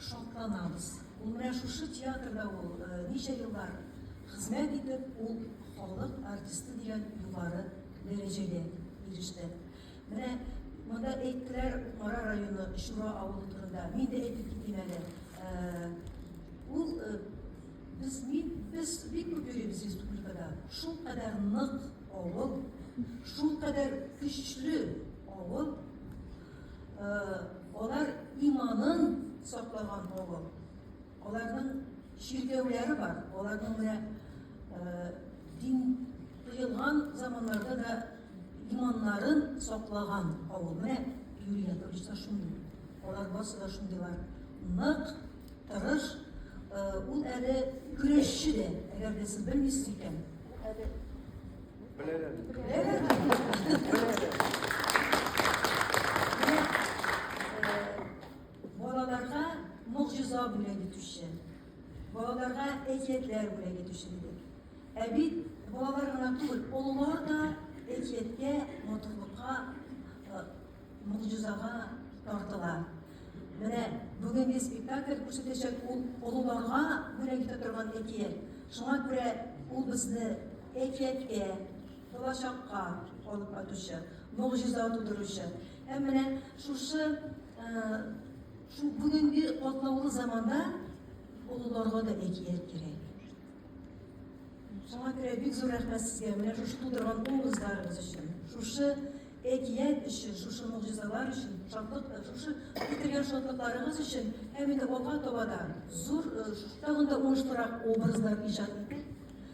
Шатланабыз. Ул менә шушы театрда ул ничә еллар хезмәт итеп, ул халык артисты дигән югары дәрәҗәгә иреште. Менә монда әйттеләр Кукмара районы Чура авылы турында. Мин дә әйтеп китим әле. Ул без мин без бик күп йөрибез республикада. Шул кадәр нык авыл, шул кадәр көчле авыл. Алар иманын саклаган авыл. Аларның чиркәүләре бар. Аларның менә дин тыелган заманнарда да иманнарын саклаган авыл. Менә Юрий Яковлевич та шундый. Алар барысы да шундыйлар. Нык, тырыш, ул әле көрәшче дә, әгәр дә сез белмисез икән, ул әле Балаларга могҗиза бүләк итүче, балаларга әкиятләр бүләк итүче дидек. Ә бит балалар гына түгел, олылар да әкияткә, матурлыкка, могҗизага тартыла. Менә бүгенге спектакль күрсәтәчәк ул олыларга бүләк итә торган әкият. Шуңа күрә ул безне Әкияткә, булачакка алып кайтучы, могҗиза тудыручы. Һәм менә шушы шул бүгенге катлаулы заманда олыларга да әкият кирәк. Шуңа күрә бик зур рәхмәт сезгә менә шушы тудырган образларыгыз өчен. Шушы әкият өчен, шушы могҗизалар өчен, шатлык, шушы китергән шатлыкларыгыз өчен һәм инде алга таба да зур, тагын да уңышлырак образлар иҗат итеп,